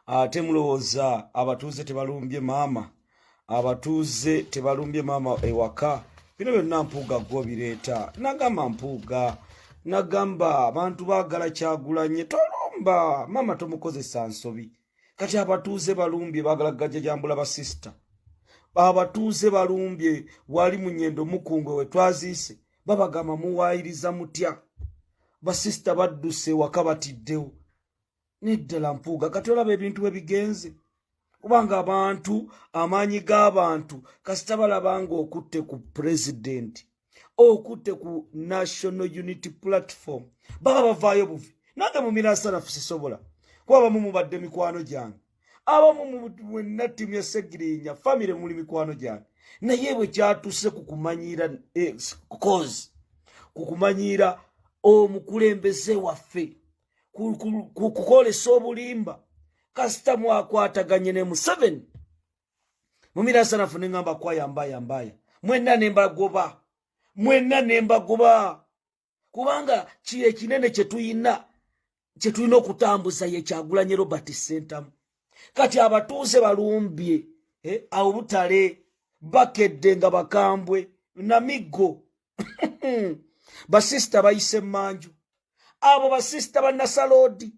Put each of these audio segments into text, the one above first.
ate mulowooza abatuuze tebalumbye maama abatuuze tebalumbye maama ewaka bino byonna mpuuga gwe obireeta nagamba mpuuga nagamba abantu baagala kyagulanye tolumba maama tomukozesa nsobi kati abatuuze balumbye baagala gajajambula basisita abatuuze balumbye wali munyendo mukungwe wetwaziise babagamba muwaayiriza mutya basisita badduse waka batiddewo neddala mpuuga kati olaba ebintu bwe bigenze kubanga abantu amaanyi g'abantu kasita balaba ng'okutte ku pulezidenti okutte ku national unity platform baba bavaayo buvi nange mu mirasanafu sisobola kuba bamu mubadde mikwano gyange abamu mwenna ttiimu ya segirinya famire muli mikwano gyange naye bwe kyatuuse ku kumanyiira eh, cause ku kumanyiira omukulembeze waffe kukolesa obulimba kasita mwakwataganye ne museveni mumiransanafu neŋamba kwayambayambaya mwenna nembagoba mwenna nembagoba kubanga kiri ekinene kyetuyina kyetulina okutambuza ye kyagulanye robert sentamu kati abatuuze balumbye eh, awobutale bakedde nga bakambwe namiggo basisita bayise manju abo basisita banasaloodi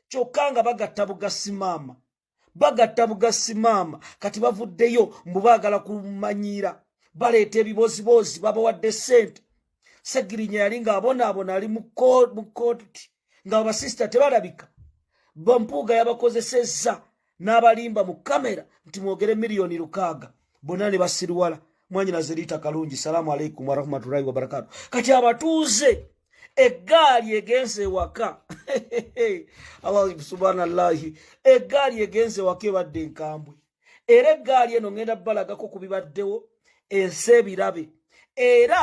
kyokka nga bagatta bugasi maama bagatta bugasi maama kati bavuddeyo mbu baagala kumanyiira baleeta ebiboziboozi babawadde sente segirinya yali ng'abonaabona ali mu kooti nga abasisita tebalabika bampuuga yabakozesezza n'abalimba mu kamera nti mwogere miliyoni lukaaga bonna ne basiriwala mwanyinaze liita kalungi salaamu aleikum warahmatullahi wabarakatu kati abatuuze eggaali egenze ewaka subhanallahi eggaali egenze ewaka ebadde enkambwe era eggaali eno ngenda balagako ku bibaddewo ensi ebirabe era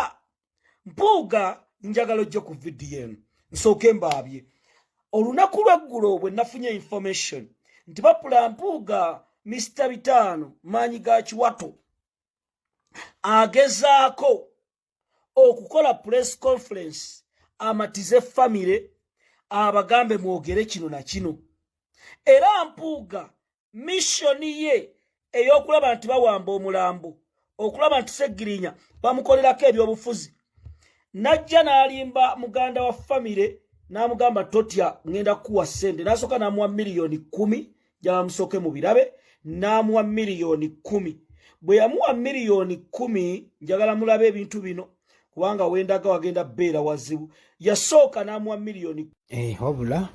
mpuuga njagala ojje ku vidiyo eno nsooke mbaabye olunaku lweggulo bwe nafunye information nti bapula mpuuga misita bitaano maanyi ga kiwato agezaako okukola press conference amatize famire abagambe mwogere kino na kino era mpuuga mishoni ye ey'okulaba nti bawamba omulambo okulaba nti segirinya bamukolerako ebyobufuzi najja n'alimba muganda wa famire n'amugamba totya ngenda kukuwa ssente n'asooka n'amuwa miliyoni kumi gyabamusooke mu birabe n'amuwa miliyoni kumi bwe yamuwa miliyoni kumi njagala mulabe ebintu bino kubanga wendaga wagenda beera wazibu yasooka n'amuwa miliyoni eh, wabula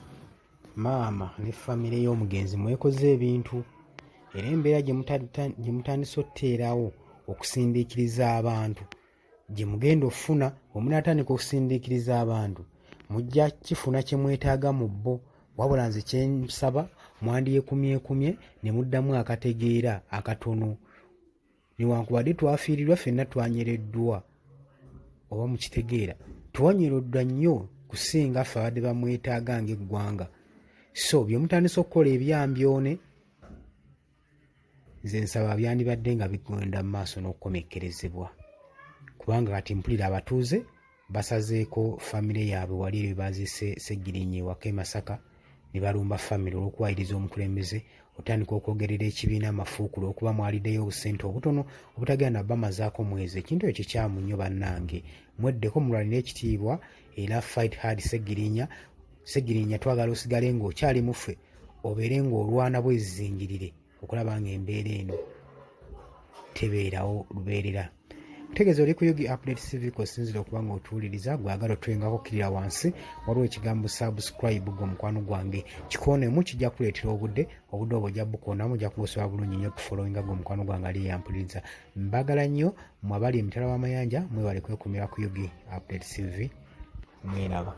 maama ne famire y'omugenzi mwekoze ebintu era embeera gye mutandise otuteerawo okusindiikiriza abantu gye mugenda okufuna omunaatandika okusindiikiriza abantu mujja kifuna kye mwetaaga mu bo wabula nze kyensaba mwandyekumyekumye ne muddamu akategeera akatono newankubadde twafiirirwa ffenna twanyereddwa oba mukitegeera twanyeroddwa nnyo kusinga ffe abadde bamwetaaga ngaeggwanga so byemutandisa okukola ebyambyone nze nsaba byandibadde nga bigenda mu maaso n'okukomekkerezebwa kubanga kati mpulira abatuuze basazeeko famire yaabwe wali ebyo baazise segirinya ewaka e masaka ne balumba famire olw'okuwayiriza omukulembeze otandika okwogerera ekibiina amafuukulu okuba mwalideyo obusente obutono obutagenda na bamazaako mwezi ekintu ekyo kikyamu nnyo bannange mweddeko mulwanire ekitiibwa era fight hard segirinya segirinya twagala osigale ng'okyali muffe obeere ng'olwana bwezizingirire okulaba nga embeera eno tebeerawo lubeerera kutegeeza oli kuyugi update cv kosinzira okuba nga otuwuliriza gwagala otwengako okkirira wansi waliwo ekigambo subscribe gwe omukwano gwange kikoonemu kijja kuleetera obudde obudde obwo ojja bukoonamu ojja kubusobola bulungi nnyo tufolowinga gwe omukwano gwange ali eyampuliriza mbagala nnyo mwabali emitala w'amayanja mwebale kwekumira kuyugi update cv mwelaba